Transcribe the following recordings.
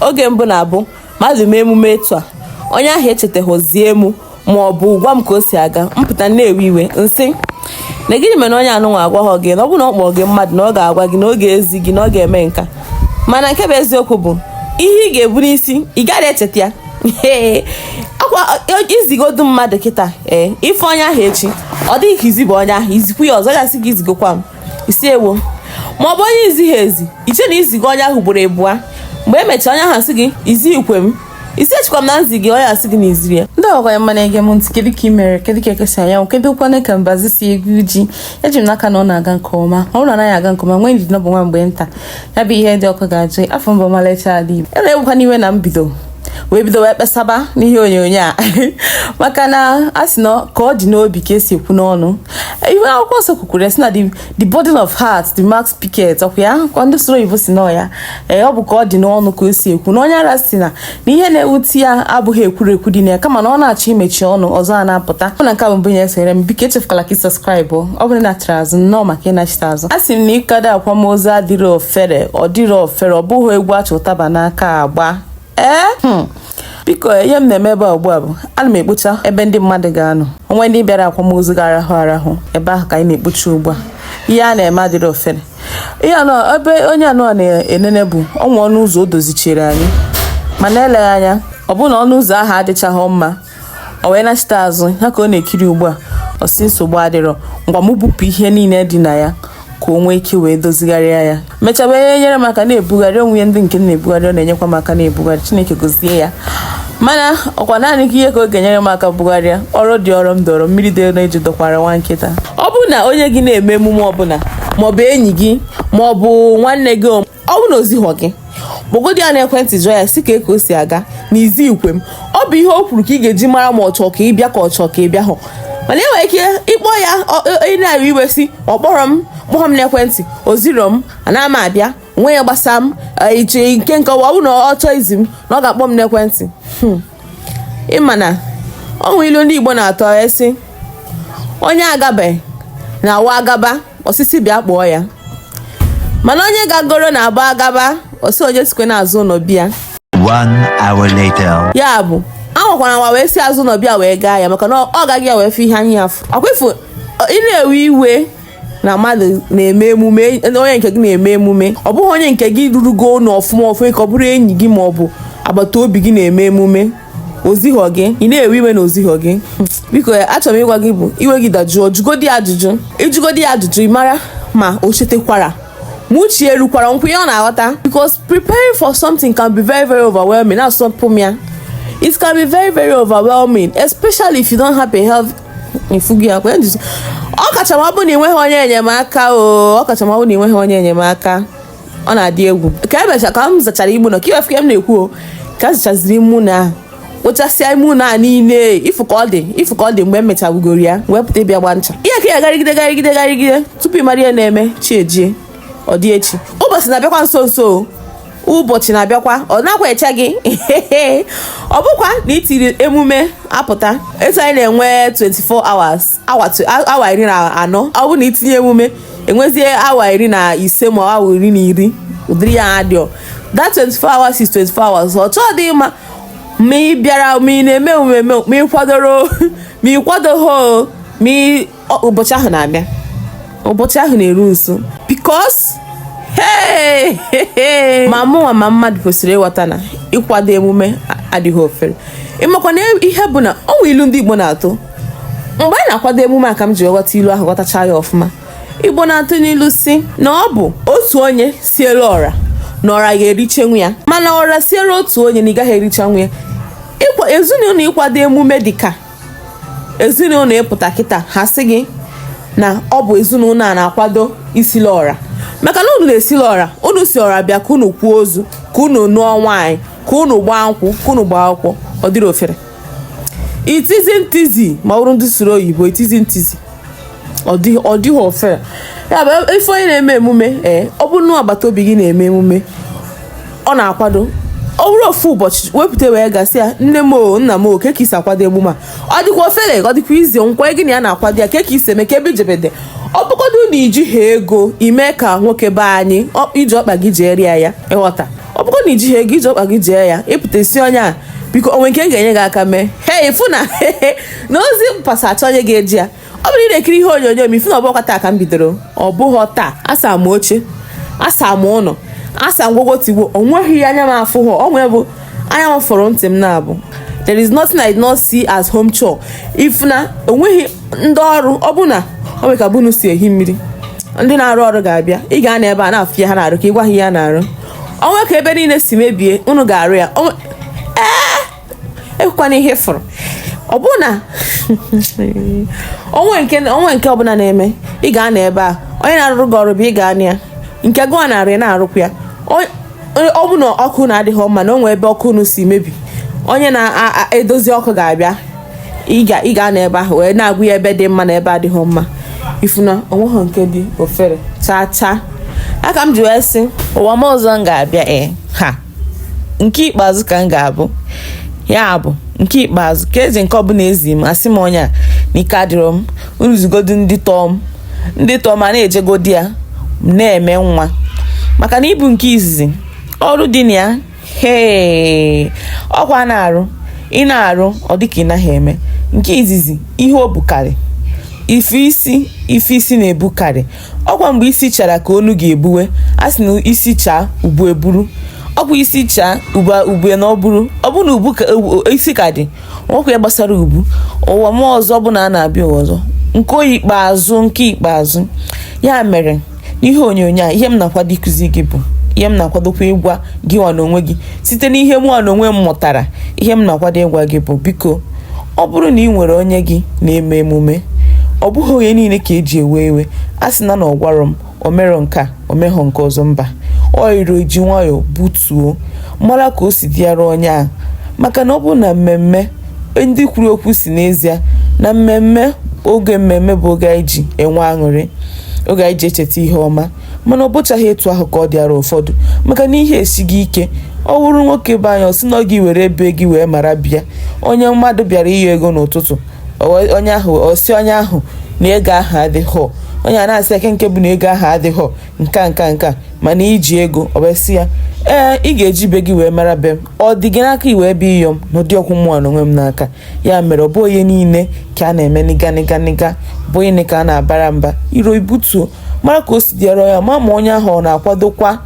oge mbụ na-abụ mmadụ mee emume etu a onye ahụ echetaghọ zie mụ ma ọ bụ gwa m ka o si aga m pụta na-ewe iwe sị na gịnị mere onye anụnwa agwaghọ gị na ọ bụ na ọ kpọrọ gị mmadụ na ọ ga-agwa gị na ọ ga-ezi gị na ọ ga-eme nka mana nke bụ eziokwu bụ ihe ị ga-ebu n'isi ị gaghị echeta ya ọkwa izigodu mmadụ kịta ee ị fụ onye ahụ echi ọ dịghị ka izibu onye ahụ izikwu ya ọzọ ga-asị gị izigokwa m ị sị ewo ma ọ bụ onye izighị ezi i chee na izigo onye ahụ ugboro abụọ mgbe e mechara onye ahụ asị gị izighikwa m ị sị echekwa m na m zi gị onye asị gị na izirọ ya ndị ọgwa ya mma na-ege m ntị kedu ka ị mere kedu ka eke si anya anwụ kedukwanụ ka mbazụ si egwu ji eji m n'aka na ọ na-aga nke ọma ọ bụrụ na ọ naghị aga nke ọma nwee ndidi na ọ bụ nwa mgbe nta ya bụ ihe dị ọkụ ga-ajụ afa m bụ ọmalịcha ala igbo e na-egbukwana iwe na mbido wee bido wee kpesaba n'ihe onyonyo a maka na a sị na ka ọ dị n'obi ka esi ekwu n'ọnụ ihe akwụkwọ nsọ kwukwuru ya sị na the abundance of heart the mouth speaketh ọkwa ya kwa ndị soro oyibo si na ya ee ọ bụ ka ọ dị n'ọnụ ka o si ekwu na onye ara sị na na ihe na-ewute ya abụghị ekwurekwu dị na ya kama na ọ na-achọ imechi ọnụ ọzọ a na-apụta ọ na nke a bụ mbụ ya esonyere m biko echefukwala ka ị subscribe ọ bụrụ na achara azụ nnọọ maka ịnachite azụ a sị m na ịkado akwamozu adịrọ ofere ọ dịrọ ofere ọ bụghị egwu achị ụtaba n'aka agba ee hmm. biko ihe m na-eme ebe a ugbu a bụ ana m ekpocha ebe ndị mmadụ ga-anọ o nwere ndị bịara akwamozu ga-arahụ arahụ ebe ahụ ka anyị na-ekpocha ugbu a ihe a na-eme adịrọ ofere ihe anọ ebe onye anụnwa na-enene bụ o nwe ọnụ ụzọ o dozichiri anyị mana eleghị anya ọ bụrụ na ọnụ ụzọ ahụ adịchaghị mma o wee nachite azụ ya ka ọ na-ekiri ugbu a ọ sị nsogbu adịrọ ngwa m bupụ ihe niile dị na ya ka o nwee ike wee dozigharịa ya mechaa wee nyere m aka na-ebugharị o nwe ndị nke na-ebugharị ọ na-enyekwa m aka na-ebugharị chineke gozie ya mana ọkwa naanị gị ihe ka ọ ga-enyere m aka bugharịa ọrụ dị ọrụ m dọrọ mmiri dị n'eju dọkwara nwa nkịta ọ bụrụ na onye gị na-eme emume ọbụla maọbụ enyi gị maọbụ nwanne gị ọ bụrụ na o zighọ gị kpọgodi ya n'ekwentị jụọ ya sị kee ka o si aga na izighikwa m ọ bụ ihe o kwuru ka ị ga-eji mara ma ọ chọọ ka ị bịa ka ọ chọọ ka ị bịa hụ mana enwere ike ịkpọ ya onye na-ewe iwe sị ọ kpọrọ m kpọrọ m n'ekwentị o zirọ m ana m abịa o nwe ihe gbasa m iche nke nke ọ bụrụ na ọ chọọ izi m na ọ ga-akpọ m n'ekwentị hmm. ị ma na ọ nwere ilu ndị Igbo na-atụ a sị onye agabeghị na-abụ agaba ọ sị sị bịa kpọọ ya mana onye gagoro na-abụ agaba ọ sị onye sikwa n'azụ ụlọ bịa One hour later. ya bụ anwakwana anwa wee si azụ ụlọ bịa wee gaa ya maka na ọ gago ya wee fụ ihe anya ya fụ ọkwa ị fụ ị na-ewe iwe na mmadụ na-eme emume onye nke gị na-eme emume ọ bụghị onye nke gị rurugo ụlọ ọfụma ọfụma ka ọ bụrụ enyi gị ma ọ bụ agbata obi gị na-eme emume o zighọ gị ị na-ewe iwe na o zighọ gị biko achọrọ m ịgwa gị bụ iwe gị dajụọ jụgodi ajụjụ ị jụgodi ya ajụjụ ị mara ma o chetekwara ma uche erukwara nkwụ ihe ọ na-aghọta because preparing for something can be very very overwhelming na-asọpụ m ya it can be very very overwhelming especially if you don't have a help ifugi akwa eduzi ọ kacha ma ọ bụ na ị nweghị onye enyemaka o ọ kacha ma ọ bụ na ị nweghị onye enyemaka ọ na-adị egwu ka emecha ka m zachara igbu na ka i wee fụ ka m na-ekwu o ka m zachaziri ime ụlọ ahụ kpochasịa ime ụlọ a niile ị fụ ka ọ dị ị fụ ka ọ dị mgbe m mechawugoro ya wee pụta ị bịa gbaa ncha ihe ka ya garịgide garịgide garịgide tupu ị mara ihe na-eme chi ejie ọ dị echi ụbọchị na-abịakwa nso nso o ụbọchị na-abịakwa ọ nakwa eche gị ọ bụkwa na i tiri emume apụta etu anyị na-enwe 24 hours awa tu- a- awa iri na anọ ọ bụ na i tinye emume enwezie awa iri na ise ma awa iri na iri ụdịrị ya adịọ that 24 hours is 24 hours ọ chọọdị ịma ma ị bịara ma ị na-eme emume ma ị kwadoro ma ị kwadoghị o, ma ị ụbọchị ahụ na-abịa ụbọchị ahụ na-eru nso because ma mụnwa ma mmadụ kwesịrị ịghọta na ịkwado emume adịghị ofere ị makwa na ihe bụ na o nwe ilu ndị Igbo na-atụ mgbe anyị na-akwado emume a ka m ji ghọta ilu ahụ ghọtacha ya ọfụma Igbo na-atụ n'ilu sị na ọ bụ otu onye sielu ọra na ọra ga-erichanwu ya mana ọra siere otu onye na ị gaghị erichanwu ya ezinụlọ ịkwado emume dịka ezinụlọ ị pụta kịta ha sị gị na ọ bụ ezinụlọ a na-akwado isili ọra maka na unu na-esili ọra unu sị ọra bịa ka unu kwaa ozu ka unu nụọ nwaanyị ka unu gbaa nkwụ ka unu gbaa akwụkwọ ọ dịrọ ofere it isn't easy ma ọ bụrụ ndị sụrụ oyibo it isn't easy ọ dịghị ọ dịghị ofere ya bụ ife onye na-eme emume ee ọ bụrụ na agbata obi gị na-eme emume ọ na-akwado ọ bụrụ ofu ụbọchị wee pụta wee ga sị ya nne m o nna m o kee ka i si akwado emume a ọ dịkwa ofele ọ dịkwa easy nkwa gị na ya na-akwado ya kee ka i si eme kee ebe i jedebe ọ bụgodu na i jihọ ego i mee ka nwoke be anyị ọ- i ji ọkpa gị jeere ya ya ị ghọta ọ bụgo na i jihọ ego i ji ọkpa gị jee ya ị pụta ị sị onye a biko o nwe nke m ga-enye gị aka mee he ị fụ na na ozi mpasa a chọọ onye ga-eje ya ọ bụrụ ị na-ekiri ihe onyonyo m ị fụ na ọ bụkwa taa ka m bidoro ọ bụghị taa asaa m oche asaa m ụlọ asaa ngwogwo tigbo o nweghị ihe anya m afụhọ ọ nwee bụ anya m fụrụ ntị m na-abụ there is nothing I did not see as home chore ị fụ na o nweghị ndị ọrụ ọ bụ na ọ bụ ka be unu si ehi mmiri ndị na-arụ ọrụ ga-abịa ị ga-anọ ebe a na-afụ ya ha na-arụ ka ị gwa ha ihe a na-arụ o nwe ka ebe niile si mebie unu ga-arụ ya ekwukwana ihe fọrọ ọ bụ na onwe nke onwe nke ọbụla na-eme ị ga-anọ ebe a onye na-arụrụ gị ọrụ bụ ị ga-anọ ya nke gụọ narị na-arụkwa ya ọ bụ na ọkụ na-adịghị mma na o nwee ebe ọkụ unu si mebi onye na-edozi ọkụ ga-abịa ị ga-anọ ebe ahụ wee na-agwa ya ebe dị mma na ebe adịghị mma ị fụ na onweghị nke dị ofere chaa chaa aka m ji wee sị ụwa m ọzọ m ga-abịa ee eh, ha nke ikpeazụ ka m ga-abụ ya bụ nke ikpeazụ ka ezi nke ọbụla ezi m asị m onye a na ike adịrọ m unu zigodu ndị tọọ m ndị tọọ m a na-ejegodi ya na-eme nwa maka na ịbụ nke izizi ọrụ dị na ya hee ọkwa na-arụ ị na-arụ ọ dịka ị naghị eme nke izizi ihe o bukarị ife isi ife isi na-ebukarị ọkwa mgbe isi chara ka onu ga-ebuwe a sị na isi chaa ubu eburu ọkwa isi chaa ubu ubu na-eburu ọ bụ na ubu ka u- isi ka dị o nwekwa ihe gbasara ubu ụwa m ọzọ bụ na a na-abịa ụwa ọzọ nke oyi ikpeazụ nke ikpeazụ ya mere n'ihe onyonyo a ihe m na-akwado ịkụzi gị bụ ihe m na-akwadokwa ịgwa gị nwa n'onwe gị site n'ihe mụ nwa n'onwe m mụtara ihe m na-akwado ịgwa gị bụ biko ọ bụrụ na ị nwere onye gị na-eme emume ọ bụghị onye niile ka eji ewe iwe a sị na na ọ gwarọ m o merọ nke a o meghọ nke ọzọ mba o iro ji nwayọọ butuo mara ka o si dịara onye ahụ maka na ọ bụ na mmemme ndị kwuru okwu sị n'ezie na mmemme oge mmemme bụ oge anyị ji enwe aṅụrị oge anyị ji echeta ihe ọma mana ọ bụchaghị etu ahụ ka ọ dịara ụfọdụ maka na ihe esighị ike ọ wụrụ nwoke be anyị ọ sị na ọ gị were be gị wee mara be ya onye mmadụ bịara ịyọ ego n'ụtụtụ ọ- onye ahụ ọ sị onye ahụ na ego ahụ adịghọ onye a na-asị kee nke bụ na ego ahụ adịghọ nka nka nka mana i ji ego ọ wee sị ya ee ị ga-eji be gị wee mara be m ọ dị gị n'aka i wee bịa ịyọ m na ọ dịghọkwụ mụ nwa n'onwe m n'aka ya mere ọ bụ onye niile ka a na-eme nịga nịga nịga bụ onye ka a na-abara mba iro i butuo mara ka o si dịara ya ma ma onye ahụ ọ na-akwadokwa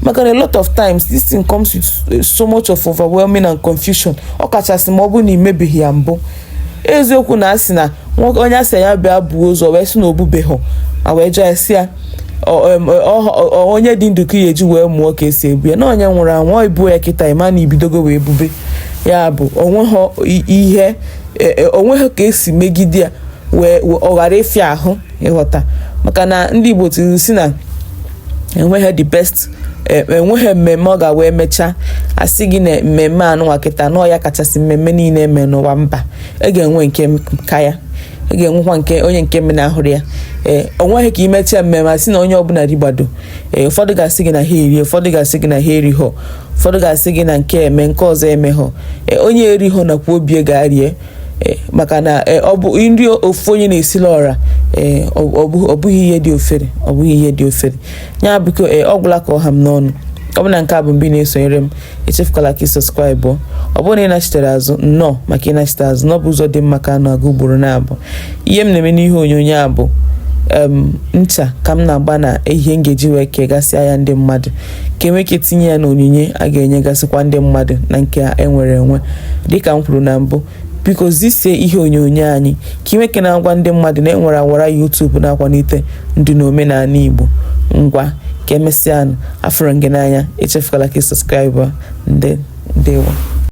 maka na a lot of times this thing comes with eh, so much of overwhelming and confusion ọ kachasị ma ọ bụ na imebeghị ya mbụ eziokwu na asị na onye asị ya bịa buo ozu wee sị na o bubeghị ya wee jụọ a sị ya onye dị ndụ ka a ya-eji wee mụọ ka esi ebu ya na onye nwụrụ anwụ i buo ya kịta ị ma na i bidogo wee bube ya bụ onweghị ihe e, e, onweghị ka esi megide ya wee ọ ghara ịfịa ahụ ịghọta maka na ndị Igbo tiri sị na enweghị the best e, enweghị mmemme ọ ga-wee mechaa asị gị na mmemme anụnwa kịta na ọ ya kachasị mmemme niile eme n'ụwa mba e ga-enwe nke ka ya e ga-enwekwa nke onye nke mme na-ahụrụ ya ee o nweghị ka i mechaa mmemme asị na onye ọbụla rigbado ee ụfọdụ ga-asị gị na ha erie ụfọdụ ga-asị gị na ha erighọ ụfọdụ ga-asị gị na nke eme nke ọzọ emeghọ ee onye erighọ nakwa obie ga-arie eh, maka na eh, ọ bụ nri ofu onye na-esila ọra eh, ọ bụ- ọ bụghị ihe dị ọfere ọ bụghị ihe dị ọfere ya biko eh, ọ gwụla ka ọ ha m n'ọnụ ọ bụ na nke a bụ mbụ ị na-esonyere m echefukwala ka ị sọskraịbụ ọ bụrụ na ị nachitere azụ nnọọ maka ị nachite azụ na ọ bụ ụzọ dị mma ka a na-aga ugboro naabọ ihe m na-eme n'ihe onyonyo a bụ em, ncha ka m na-agba na ihe m ga-eji wee kegasịa ya ndị mmadụ ka e nwee ike tinye ya n'onyinye a ga-enyegasịkwa ndị mmadụ na nke a enwere enwe dịka m kwuru na mbụ biko zisie ihe onyonyo anyị ka i nwee ike na-agwa ndị mmadụ na enwere awara YouTube na-akwalite ndị na omenala Igbo ngwa ka emesịanụ afụrụ m gị n'anya echefukwala ka ị sọskraịbụ ndị ndewo